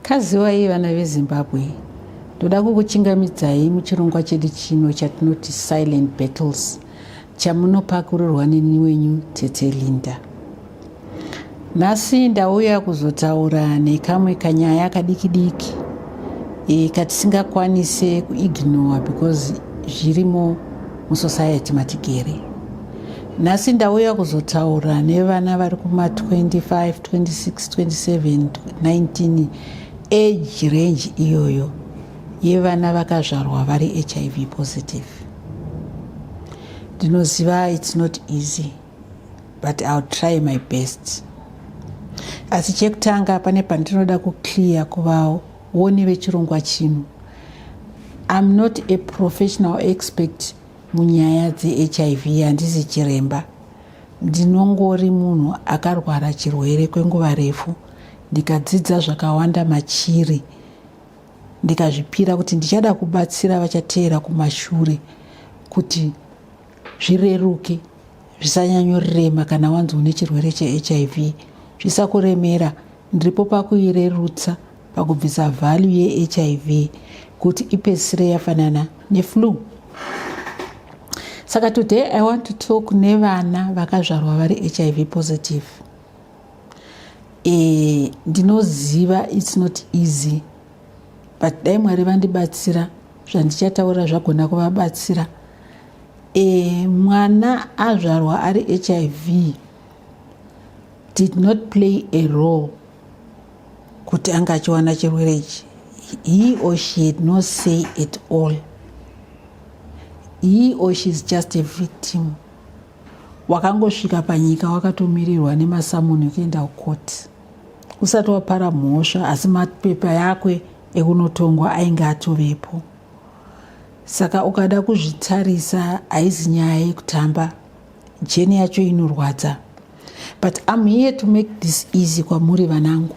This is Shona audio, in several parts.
kaziwai vana vezimbabwe ndoda kukuchingamidzai muchirongwa chedu chino chatinoti silent battles Chamunopakurirwa neni wenyu tete Linda. Nhasi ndauya kuzotaura nekamwe kanyaya kadiki diki e, katisingakwanise kuignore because zvirimo musociety matigere. Nhasi ndauya kuzotaura nevana vari kuma 25, 26, 27, 19 age range iyoyo yevana vakazvarwa vari hiv positive. ndinoziva it's not easy but ill try my best asi chekutanga pane pandinoda kuclear kuvawo woni vechirongwa chino im not a professional expect munyaya dzehiv handisi chiremba ndinongori munhu akarwara chirwere kwenguva refu ndikadzidza zvakawanda machiri ndikazvipira kuti ndichada kubatsira vachateera kumashure kuti zvireruke zvisanyanyorirema kana wanzi une chirwere chehiv zvisakuremera ndiripo pakuirerutsa pakubvisa vhalyu yehiv kuti ipedzisire yafanana neflu saka today i want to talk nevana vakazvarwa vari hiv positive Eh, ndinoziva its not easy but dai mwari vandibatsira zvandichataura zvagona kuvabatsira e, mwana azvarwa ari hiv did not play a role kuti anga achiwana chirwere ichi he or she had no say at all he or she is just a victim wakangosvika panyika wakatomirirwa nemasamoni kuenda kukoti usati wapara mhosva asi mapepa yakwe ekunotongwa ainge atovepo saka ukada kuzvitarisa haizi nyaya yekutamba jeni yacho inorwadza but am here to make this easy kwamuri vanangu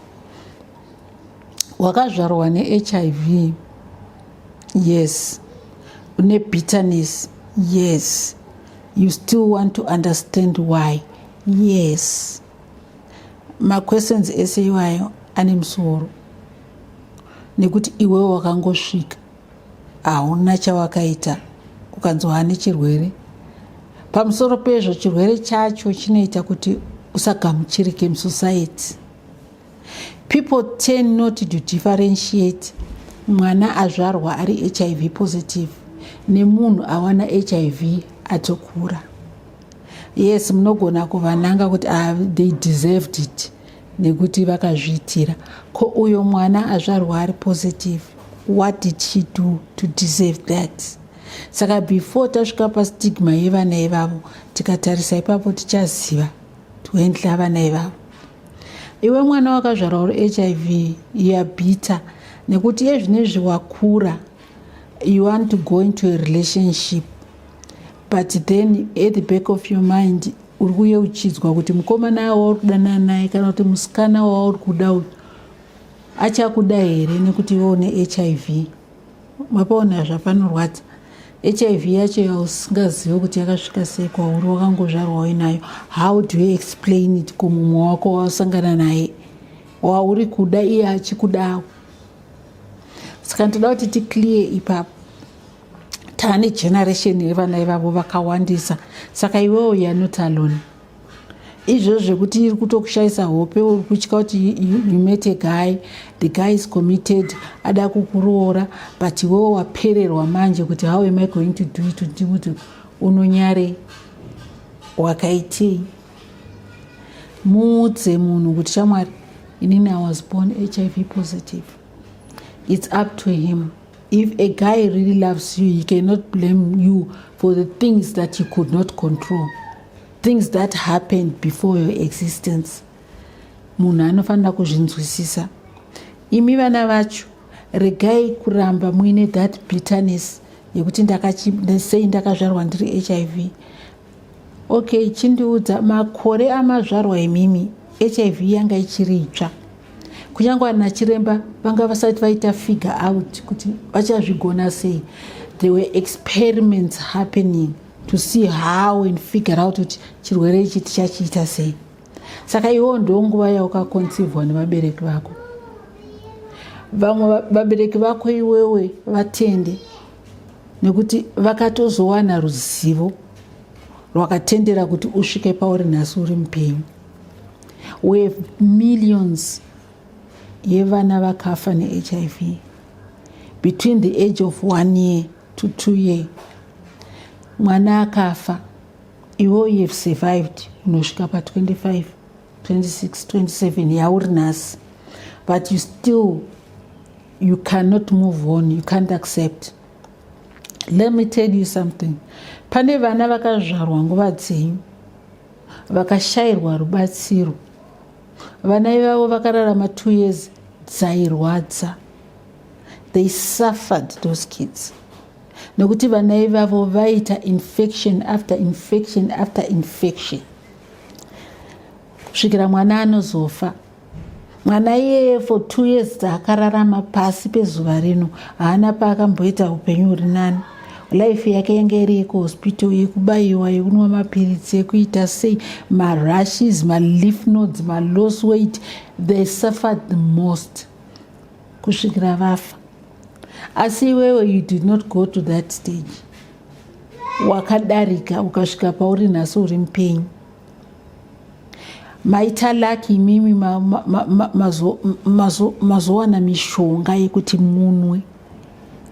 wakazvarwa nehiv yes une bitterness yes You still want to understand why? Yes. Ma questions ese iwayo ane musoro nekuti iwewo wakangosvika hauna chawakaita ukanzi waane chirwere pamusoro pezvo chirwere chacho chinoita kuti usagamuchirike musociety people tend not to differentiate mwana azvarwa ari hiv positive nemunhu awana hiv atokura yes munogona kuvananga kuti ah, they deserved it nekuti vakazviitira ko uyo mwana azvarwa ari positive what did she do to deserve that saka before tasvika pastigma yevana ivavo tikatarisa ipapo tichaziva tiwendla vana ivavo iwe mwana wakazvarwa uri hiv youare bitter nekuti iye zvine zviwakura you want to go into a relationship but then at the back of your mind uri kuye uchidzwa kuti mukomana wauri kudanana naye kana kuti musikana wauri kuda uyu achakuda here nekuti iwe une hiv mapaona zvapanorwadza hiv yacho yausingazive kuti yakasvika sei kwauri wakangozvarwa uinayo how do you explain it kumumwe wako wausangana naye wauri kuda iye achikudawo saka ndoda kuti ticlear ipapo tane generation yevana ivavo vakawandisa saka iwewo yanot alone izvozvo zvekuti iri kutokushayisa hope uri kutya kuti you met a guy the guy is committed ada kukuroora but iwewo wapererwa manje kuti how am i going to do it ndi kuti unonyare wakaitei muudze munhu kuti shamwari inini i was born hiv positive it's up to him If a guy really loves you, he cannot blame you for the things that he could not control, things that happened before your existence. Munhu anofanira kuzvinzwisisa. Imi vana vacho, regai kuramba muine that bitterness yekuti sei ndakazvarwa ndiri HIV. okay chindiudza makore amazvarwa imimi hiv yanga ichiri itsva kunyange vana chiremba vanga vasati vaita figure out kuti vachazvigona sei there were experiments happening to see how and figure out kuti chirwere ichi tichachiita sei saka iwo ndo nguva yaukaconcivwa nevabereki vako vamwe vabereki vako iwewe vatende nekuti vakatozowana ruzivo rwakatendera kuti usvike pauri nhasi uri mupenyu uye millions yevana vakafa nehiv between the age of one year to two year mwana akafa iwe you have survived unosvika pa 25 26 27 yauri nhasi but you still you cannot move on you can't accept let me tell you something pane vana vakazvarwa nguva dzenyu vakashayirwa rubatsiro vana ivavo vakararama two years dzairwadza they suffered those kids nekuti vana ivavo vaita infection after infection after infection kusvikira mwana anozofa mwana iyeye for two years dzaakararama pasi pezuva rino haana paakamboita upenyu huri nani life yake yange iri yekuhospital yekubayiwa yekunwa mapiritsi yekuita sei marushes maleaf nodes malos weight they suffered the most kusvikira vafa asi iwewe you did not go to that stage wakadarika ukasvika pauri nhasi uri mupenyu maita laki imimi mazowana mishonga yekuti munwe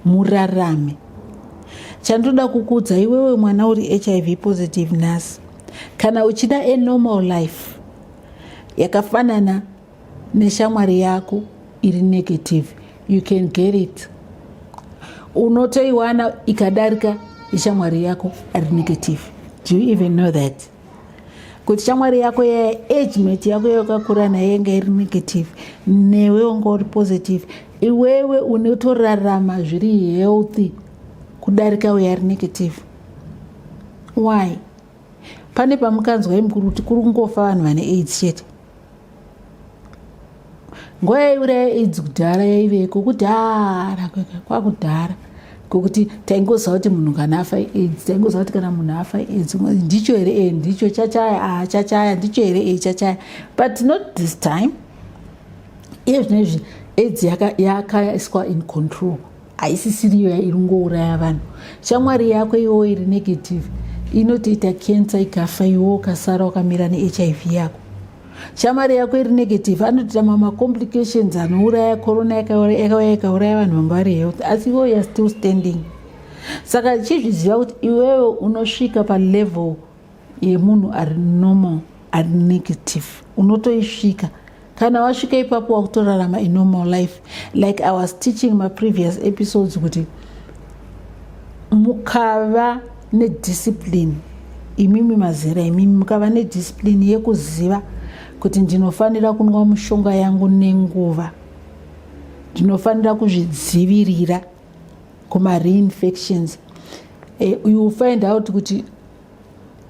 murarame chandoda kukudza iwewe mwana uri hiv positive nhasi kana uchida a normal life yakafanana neshamwari yako iri negative you can get it unotoiwana ikadarika ishamwari yako ari negative do you even know that kuti shamwari yako yaya agement yako yawakakura nayo yanga iri negative newe wanga uri positive iwewe unotorarama zviri healthy kudarika uyo ari negative why pane pamukanzwa imukuru kuti kuri kungofa vanhu vane aids chete nguva yaiuraya aids kudhara yaiveko kudhara kwakudhara kokuti taingoziva kuti munhu kana afa aids taingoziva kuti kana munhu afa aids ndicho here e ndicho chachaya a ah, chachaya ndicho here e chachaya but not this time iye zvino izvi aids yakaiswa in control haisisiriyo iringouraya vanhu shamwari yako iwo iri negative inotoita kensa ikafa iwo ukasara wakamira nehiv yako shamwari yako iri negative anotoita mamacomplications anouraya corona yakauya ikauraya vanhu vanga vari health asi iwo youare still standing saka chizviziva kuti iwewe unosvika palevel yemunhu ari normal ari negative unotoisvika kana wasvika ipapo wakutorarama inormal life like i was teaching maprevious episodes kuti mukava nediscipline imimi mazera imimi mukava nediscipline yekuziva kuti ndinofanira kunwa mushonga yangu nenguva ndinofanira kuzvidzivirira kumareinfections eh, you find out kuti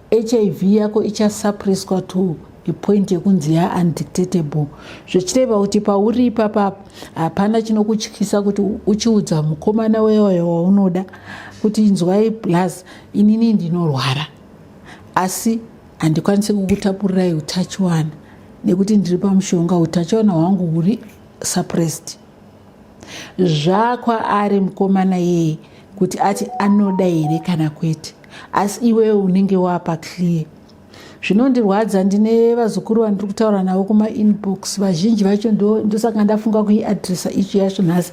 hiv yako ichasuppresswa to a point yekunzi ya undictatable zvichireva kuti pauri ipapa hapana chinokutyisa kuti uchiudza mukomana wewayo waunoda kuti inzwai plus inini ndinorwara asi handikwanisi kukutapurirai utachiwana nekuti ndiri pamushonga utachiwana hwangu huri suppressed zvakwaari mukomana yeye kuti ati anoda here kana kwete asi iwewe unenge wapa clear zvinondirwadza ndine vazukuru vandiri kutaura navo kumainbox vazhinji vacho ndosaka ndafunga kuiadressa ichi yacho nhasi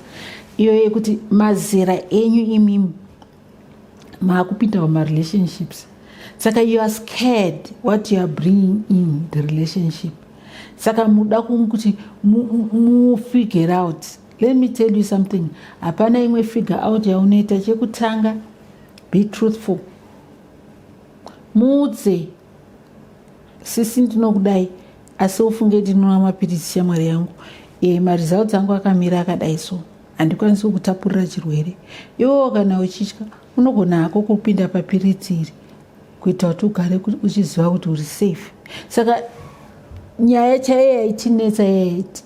iyo yekuti mazera enyu imimi maakupinda mumarelationships saka you are scared what you are bringing in the relationship saka muda kuti mufigure out let me tell you something hapana imwe figure out yaunoita chekutanga be truthful muudze sisi ndinokudai asi ufunge ndinonwa mapiritsi shamwari yangu e, maresults angu akamira akadai so handikwanisi kukutapurira chirwere iwewo kana uchitya unogona hako kupinda papiritsi iri kuita kuti ugare uchiziva kuti uri safe saka nyaya chaiyo yaitinetsa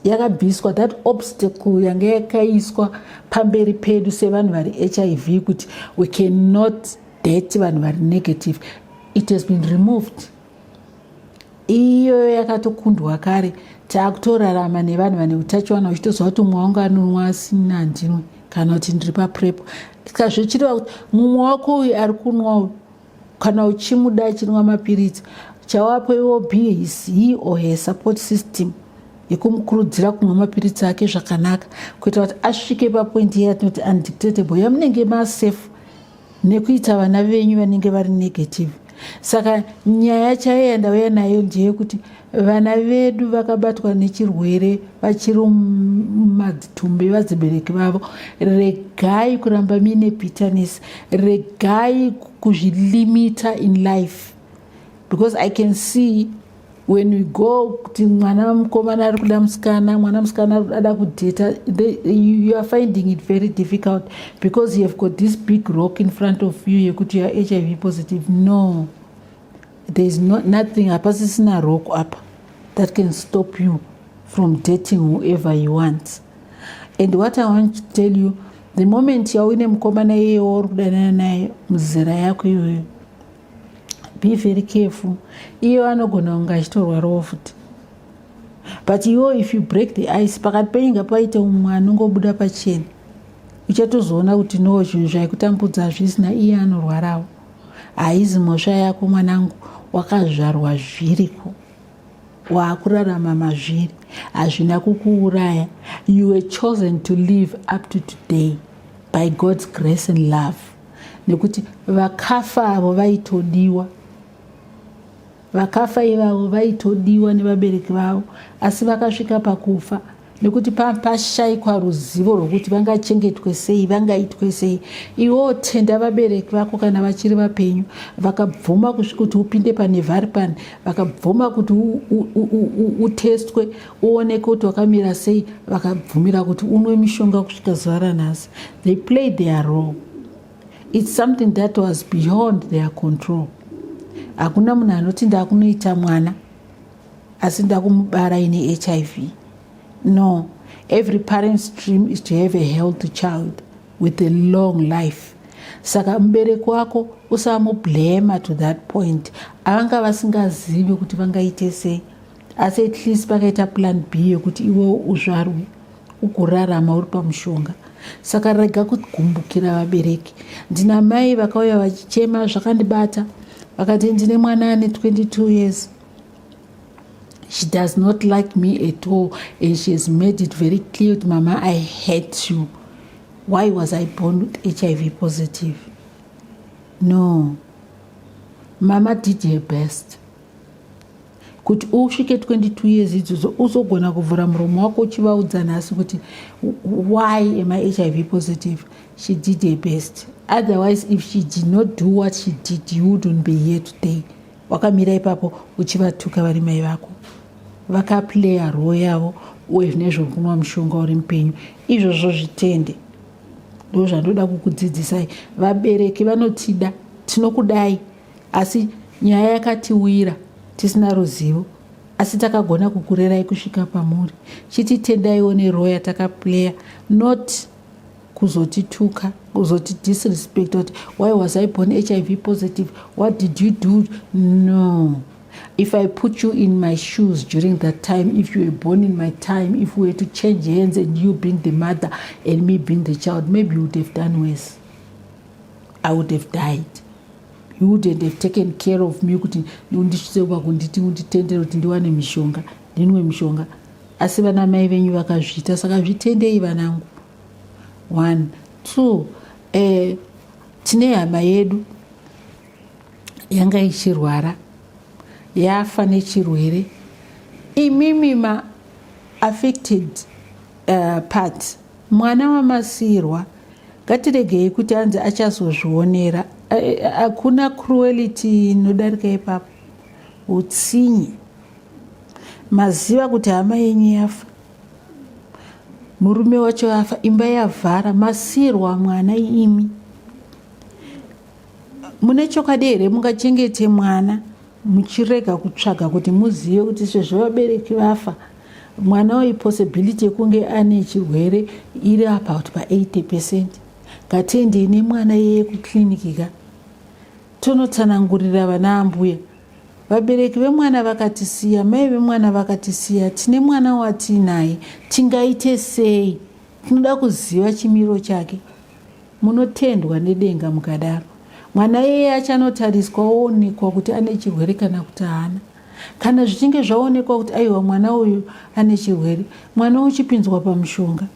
yakabviswa that obstacle yanga yakaiswa pamberi pedu sevanhu vari hiv kuti we cannot date vanhu vari negative it has been removed iyoyo yakatokundwa kare taakutorarama nevanhu vane utachiwana uchitoziva kuti mumwe wangu anonwa asina handinwe kana kuti ndiri paprepo ska zvichireva kuti mumwe wako uyu ari kunwa uyu kana uchimuda achinwa mapiritsi chawapo iwo be his he or her support system yekumukurudzira kunwa mapiritsi ake zvakanaka kuita kuti asvike papoindi yatinoti undictatable yamunenge masafe nekuita vana venyu vanenge vari negative saka nyaya chaiyo yandauya nayo ndeyekuti vana vedu vakabatwa nechirwere vachiri mumadzitumbi vadzibereki vavo regai kuramba muine bitterness regai kuzvilimita in life because i can see when we go kuti mwana mukomana ari kuda musikana mwana musikana ada kudheta you are finding it very difficult because you have got this big rock in front of you yekuti you are hiv positive no there is no, nothing hapasisina rock apa that can stop you from dating whoever you want and what i want to tell you the moment yauine mukomana iyeyewo uri kudanana naye muzera yako iyoyo be very careful iyo anogona kunge achitorwarawo futi but iwo if you break the ice pakati penyu nga paite umwe anongobuda pachena uchatozoona kuti no zvinhu zvaikutambudza hazvisina iye anorwarawo haizi mhosva yako mwanangu wakazvarwa zviriko waakurarama mazviri hazvina kukuuraya you were chosen to live up to today by god's grace and love nekuti vakafa avo vaitodiwa vakafa ivavo vaitodiwa nevabereki vavo asi vakasvika pakufa nekuti pashaikwa ruzivo rwokuti vangachengetwe sei vangaitwe sei iwewo tenda vabereki vako kana vachiri vapenyu vakabvuma kusvika kuti upinde panevhari pani vakabvuma kuti utestwe uone kuti wakamira sei vakabvumira kuti unwe mishonga kusvika zuva ranhasi they play their role its something that was beyond their control hakuna munhu anoti ndakunoita mwana asi ndakumubara ine hiv no every parent's dream is to have a healthy child with a long life saka mubereki wako usamublema to that point avanga vasingazivi kuti vangaite sei asi at least pakaita plan b yekuti iwewo uzvarwe ukurarama uri pamushonga saka rega kugumbukira vabereki ndina mai vakauya vachichema zvakandibata vakati ndine mwana ane 22 years she does not like me at all and she has made it very clear kuti mama i hate you why was i born with hiv positive no mama did her best kuti usvike 22 years idzodzo uzogona kuvhura muromo wako uchivaudza nhasi kuti why am i hiv positive she did her best otherwise if she did not do what she did you wouldn't be here today wakamira ipapo uchivatuka vari mai vako vakaplaya roo yavo uye zvine zvokunwa mushonga uri mupenyu izvozvo zvitende ndo zvandoda kukudzidzisai vabereki vanotida tinokudai asi nyaya yakatiwira tisina ruzivo asi takagona kukurerai kusvika pamuri chiti tendaiwo neroya takaplayer not kuzotituka kuzoti disrespect kuti why was i born hiv positive what did you do no if i put you in my shoes during that time if you were born in my time if we were to change hands and you being the mother and me being the child maybe you would have done worse i would have died you wouldn't have taken care of me kuti undisvitse kuba kunditi unditendere kuti ndiwane mishonga ndinwe mishonga asi vana mai venyu vakazviita saka zvitendei vanangu one two eh, tine hama yedu yanga ichirwara yafa nechirwere imimi ma affected uh, parts Mwana wamasiirwa ngatiregei kuti anzi achazozvionera. Hakuna cruelty inodarika ipapo, utsinye. Maziva kuti hama yenyu yafa, murume wacho afa, imba yavhara, masiirwa mwana imi. Mune chokwadi here mungachengete mwana muchirega kutsvaga kuti muzive kuti sezvo vabereki vafa mwana uyu possibility yekunge ane chirwere iri about pa80 percent ngatiendei nemwana yeye kuclinic ka tonotsanangurira vana ambuya vabereki vemwana vakatisiya mai vemwana vakatisiya tine mwana watiinaye tingaite sei tinoda kuziva chimiro chake Munotendwa nedenga mukadaro. Mwana iyeye achanotariswa oonekwa kuti ane chirwere kana kuti haana. Kana zvichinge zvaonekwa kuti aiwa mwana uyu ane chirwere, mwana uchipinzwa pamushonga.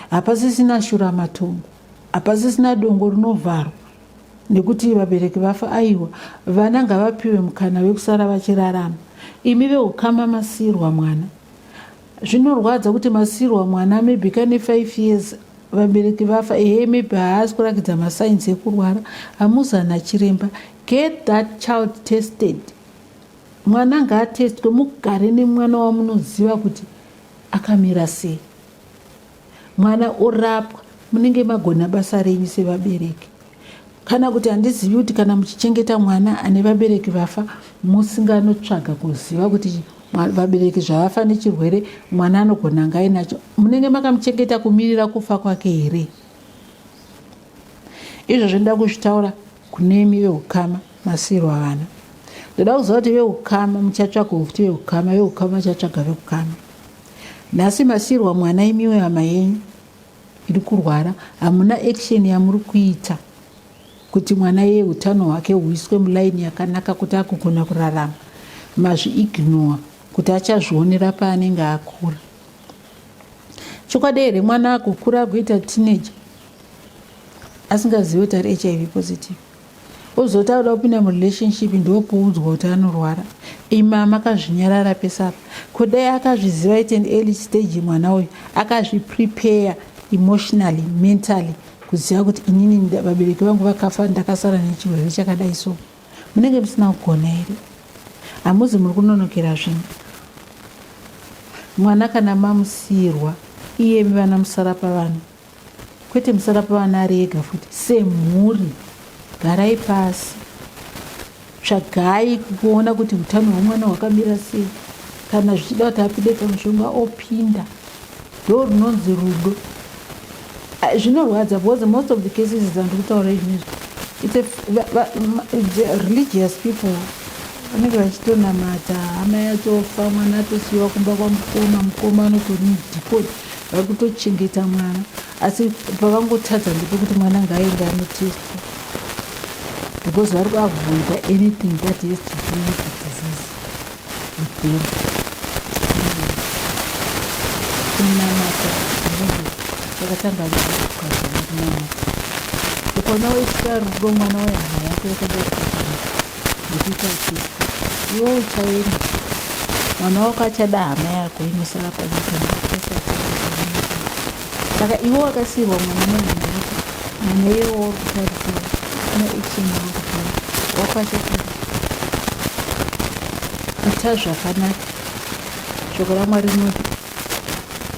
Hapasisina shuramatongo, hapasisina dongo rinovharwa nekuti vabereki vafa. Aiwa, vana ngavapiwe mukana wekusara vachirarama. Imi veukama masiyirwa mwana. zvinorwadza kuti masiirwa mwana maybe kane five years vabereki vafa ehe maybe haasi kurakidza masainzi ekurwara hamuzana chiremba get that child tested mwana ngaatestwe mugare nemwana wamunoziva kuti akamira sei mwana orapwa munenge magona basa renyu sevabereki kana kuti handizivi kuti kana muchichengeta mwana ane vabereki vafa musinganotsvaga kuziva kuti vabereki zvavafa nechirwere mwana anogona anga ainacho munenge makamuchengeta kumirira kufa kwake here izvo zvinoda kuzvitaura Kune imi veukama masiirwa vana. Ndoda kuziva kuti veukama muchatsvaga kuti veukama veukama vachatsvaga veukama. Nhasi masiirwa mwana imiwe hama yenyu iri kurwara hamuna action yamuri kuita kuti mwana yeye utano hwake huiswe mulaini yakanaka kuti akugona kurarama mazviignore kuti achazvionera paanenge akura chokwadi here mwana akukura akuita teenager asingazive kuti ari hiv positive ozoti akuda kupinda murelationship ndopoudzwa kuti anorwara ima makazvinyarara pesapa ko dai akazviziva ite an early stage mwana uyu akazviprepare emotionally mentally kuziva kuti inini vabereki vangu vakafa ndakasara nechirwere chakadai so munenge musina kugona here hamuzi muri kunonokera zvinhu mwana kana mamusiyirwa iyemi vana musara pavanhu Kwete musarapa vana ari ega futi semhuri garai pasi tsvagai kuona kuti utano hwemwana hwakamira sei kana zvichida kuti apinde pamushonga opinda ndo runonzi rudo ah, zvinorwadza because most of the cases dzandiri kutaura izvinezvi its a religious people vanenge vachitonamata hama yatofa mwana atosiyiwa kumba kwamukoma mukoma anotori mudhipoti vari kutochengeta mwana asi pavangotadza ndepekuti mwana ngaende anotestwa because vari kuavoida anything that has to do with the disease with them kunamata vakatanga kunamata ukonawo isika rudo mwana wehana yako yakadai ndikuita uchitya iwe uchaenda mwana wako achada hama yako inosara panyika saka iwe wakasiirwa mwana mwana mwana iye waurikutarisira no action wakutaa wakwachakura ita zvakanaka shoko ramwari rinoti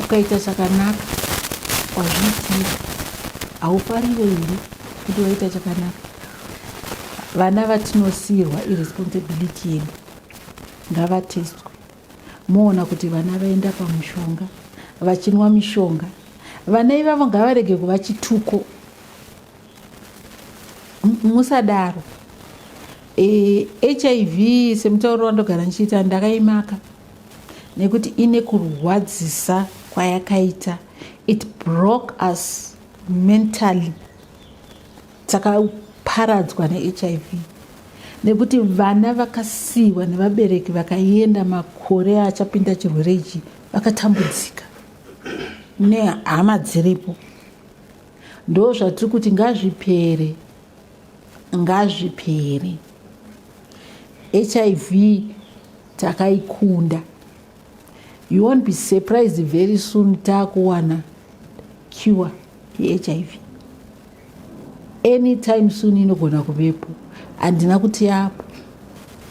ukaita chakanaka wazviitira haufarire here kuti waita chakanaka vana vatinosiirwa iresponsibility yedu ngavatestwe moona kuti vana vaenda pamushonga vachinwa mishonga vana ivavo ngavarege kuva chituko musadaro e, eh, hiv semutauro wandogara ndichiita ndakaimaka nekuti ine kurwadzisa kwayakaita it broke us mentally dzakaparadzwa nehiv nekuti vana vakasiyiwa nevabereki vakaenda makore achapinda chirwere ichi vakatambudzika nehama dziripo ndo zvatiri kuti ngazvipere ngazvipere hiv takaikunda You won't be surprised very soon takuwana cure yeHIV. Anytime soon inogona kuvepo. Handina kuti yapo.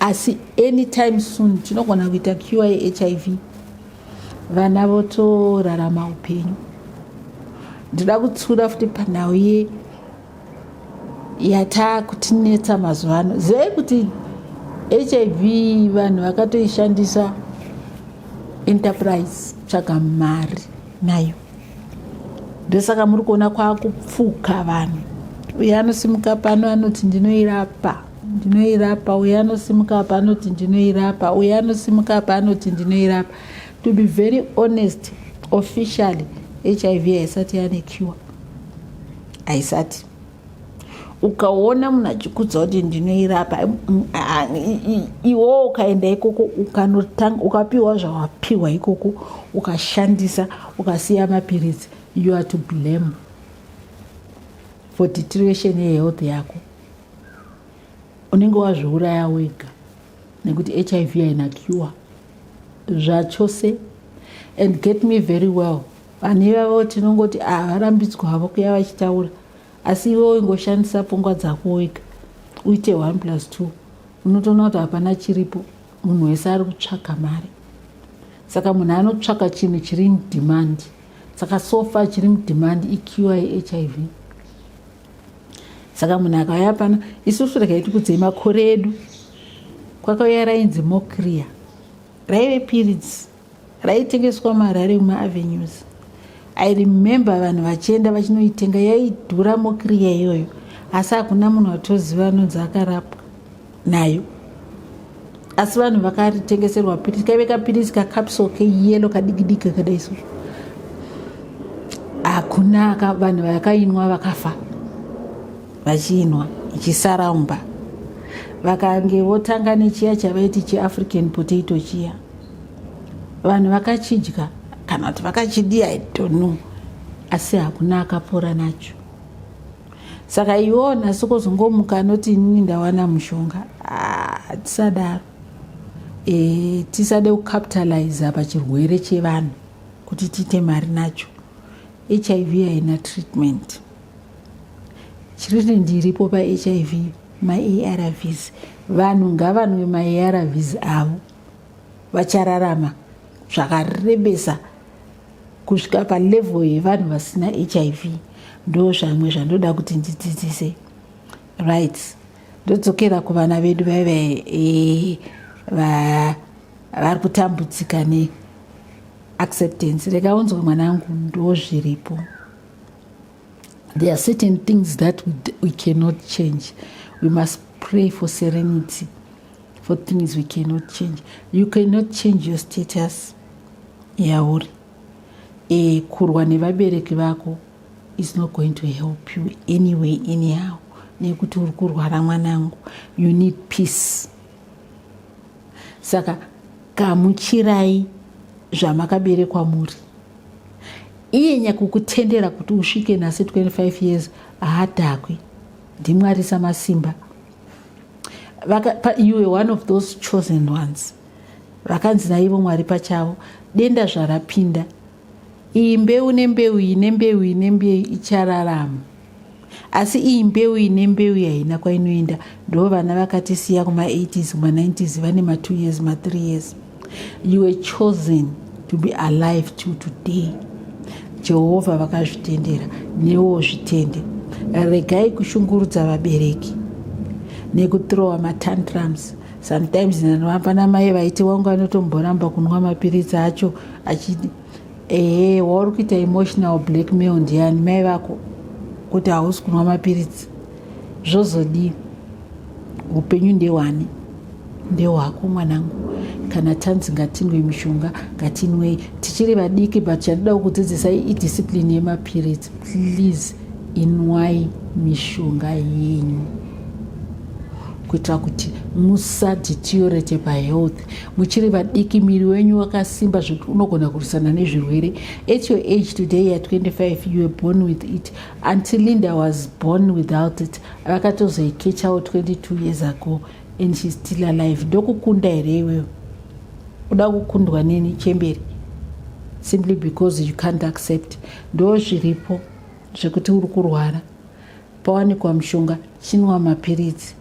Asi anytime soon tinogona kuita cure yeHIV. Vana votorarama upenyu. Ndinoda kutsura futi panhau ye yataa kutinetsa mazuva ano zivai kuti hiv vanhu vakatoishandisa enterprise tsvaga mari nayo ndosaka muri kuona kwakupfuka vanhu uye anosimuka pano anoti ndinoirapa ndinoirapa uye anosimuka apa anoti ndinoirapa uye anosimuka apa anoti ndinoirapa to be very honest officially hiv haisati yane cure haisati ukaona munhu achikudza kuti ndinoirapa iwowo ukaenda ikoko ukanotanga ukapiwa zvawapiwa ikoko ukashandisa ukasiya mapiritsi you are to blame for deterioration yehealth yako unenge wazviuraya wega nekuti hiv haina cure zvachose and get me very well vanhu ivavo tinongoti ah, varambidzwa havo kuya vachitaura asi ivo ingoshandisa pfungwa dzako wega uite one plus two unotoona kuti hapana chiripo munhu wese ari kutsvaga mari saka munhu anotsvaga chinhu chiri mudhimandi saka sofa chiri mudhimandi iqi hiv saka munhu akauya pano isusu rega itikudzei makore edu kwakauya rainzi mokriya raive piritsi raitengeswa muharare mumavenues i remember vanhu vachienda vachinoitenga yaidhura mokiriya iyoyo asi hakuna munhu atoziva anonzi akarapwa nayo asi vanhu vakaritengeserwa piritsi kaive kapiritsi kacapsol keyelo kadikidiki kadai so hakuna vanhu vakainwa vakafa vachiinwa ichisaraumba vakange votanga nechiya chavaiti chiafrican potato chiya vanhu vakachidya kana kuti vakachidii i don't know asi hakuna akapora nacho saka iwo nhasi kozongomuka anoti inini ndawana mushonga hatisadaro ah, e, tisade kucapitaliza pachirwere chevanhu kuti tiite mari nacho hiv haina treatment treatment iripo pahiv maarvs vanhu ngavanwe maarvs avo vachararama zvakarebesa kusvika palevel yevanhu vasina hiv ndo zvamwe zvandoda kuti ndidzidzise right ndodzokera kuvana vedu vaive eh, vari kutambudzika ne acceptance rekaunzwa mwanangu ndozviripo there are certain things that we, we cannot change we must pray for serenity for things we cannot change you cannot change your status yauri e, kurwa nevabereki vako is not going to help you anyway anyhow nekuti uri kurwara mwanangu you need peace saka gamuchirai zvamakaberekwa muri iye nyakukutendera kuti usvike nhasi 25 years haadhakwi ndimwari samasimba you were one of those chosen ones vakanzi naivo mwari pachavo denda zvarapinda iyi mbeu nembeu iyi nembeu iyi nembeu ichararama asi iyi mbeu ine mbeu yaina kwainoenda ndo vana vakatisiya kuma 80s kuma 90s vane ma 2 years ma 3 years you were chosen to be alive to today jehovha vakazvitendera newo zvitende regai kushungurudza vabereki nekutrowa matantrums sometimes nanoambanamai vaiti wangu anotomboramba kunwa mapiritsi acho achiti ehe wauri kuita emotional blackmail ndiyani mai vako kuti hausi kunwa mapiritsi zvozodii upenyu ndewani ndewako mwanangu kana tanzi ngatinwe mishonga ngatinwei tichiri vadiki but chandida kukudzidzisai idiscipline yemapiritsi please inwai mishonga yenyu kuitira kuti musaditiorete pahealth muchiri vadiki miri wenyu wakasimba zvekuti unogona kurwisana nezvirwere at your age today ya 25 you were born with it until linda was born without it vakatozoikechawo 22 years ago and shes still alive ndokukunda here iweyo kuda kukundwa neni chemberi simply because you can't accept ndo zviripo zvekuti uri kurwara pawanikwa mushonga chinwa mapiritsi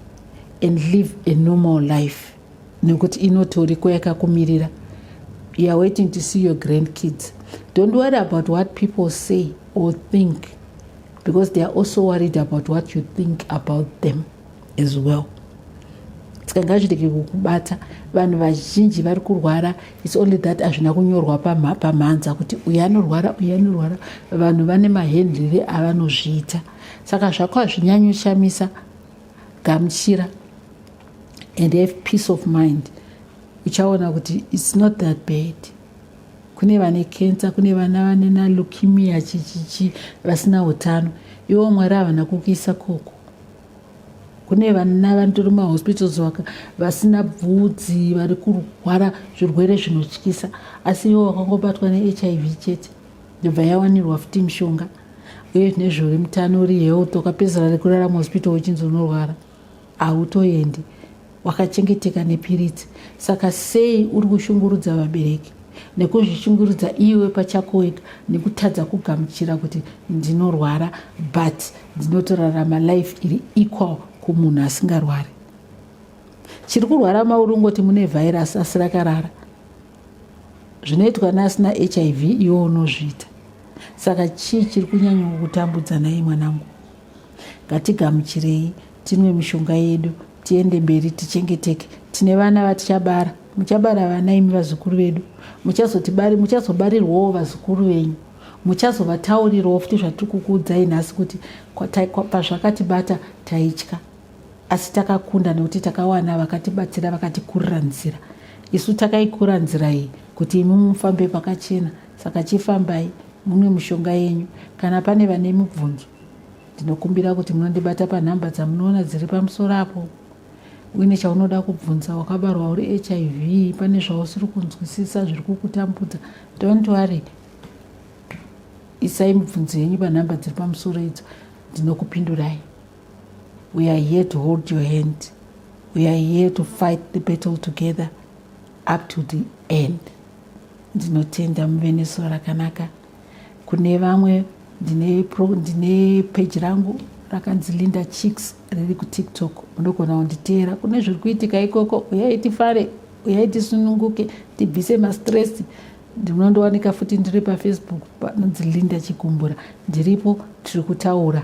and live a normal life nekuti inotoriko yakakumirira youare waiting to see your grand kids don't worry about what people say or think because they are also worried about what you think about them as well tikangazvirege kukubata vanhu vazhinji vari kurwara its only that hazvina kunyorwa pamhanza kuti uyu anorwara uyu anorwara vanhu vane mahendlire avanozviita saka zvako hazvinyanyoshamisa gamuchira and have peace of mind uchaona kuti its not that bad kune vane kensa kune vana vane nalukimia chichichi vasina utano iwo mwari havana kukuisa koko kune vana vanotori mahospitals waka vasina bvudzi vari kurwara zvirwere zvinotyisa asi iwo wakangobatwa nehiv chete yobva yawanirwa futi mishonga uye zvine zvori mutano uri health ukapedzera rekurarama hospital uchinzi unorwara hautoendi wakachengeteka nepiritsi saka sei uri kushungurudza vabereki nekuzvishungurudza iwe pachako wega nekutadza kugamuchira kuti ndinorwara but ndinotorarama life iri equal kumunhu asingarwari chiri kurwara mauri ungoti mune vhairasi asi rakarara zvinoitwa neasina hiv iwo unozviita saka chii chiri kunyanya kutambudza naye mwanangu ngatigamuchirei tinwe mishonga yedu tiende mberi tichengeteke tine vana vatichabara muchabara vana imi vazukuru vedu muchazobarirwawo vazukuru venyu muchazovataurirwawo futi zvatiri kukuudzai nhasi kuti pazvakatibata taitya asi takakunda nekuti takawana vakatibatsira vakatikurira nzira isu takaikura nzira iyi kuti imi mufambe pakachena saka chifambai mune mushonga yenyu kana pane vane mibvunzo ndinokumbira kuti munondibata panhamba dzamunoona dziri pamusoro apo uine chaunoda kubvunza wakabarwa uri hiv pane zvausiri kunzwisisa zviri kukutambudza dont worry isai mibvunzo yenyu panhamba dziri pamusoro idzo ndinokupindurai We are here to hold your hand. We are here to fight the battle together up to the end. Ndinotenda muve nesuo rakanaka. Kune vamwe ndine pro ndine page rangu rakanzi Linda Chicks riri ku TikTok. Munogona kunditeera kune zviri kuitika ikoko. Uyai tifare, uyai tisununguke, tibvise ma stress. Ndinondowanika futi ndiri pa Facebook panonzi Linda Chikumbura. Ndiripo tiri kutaura.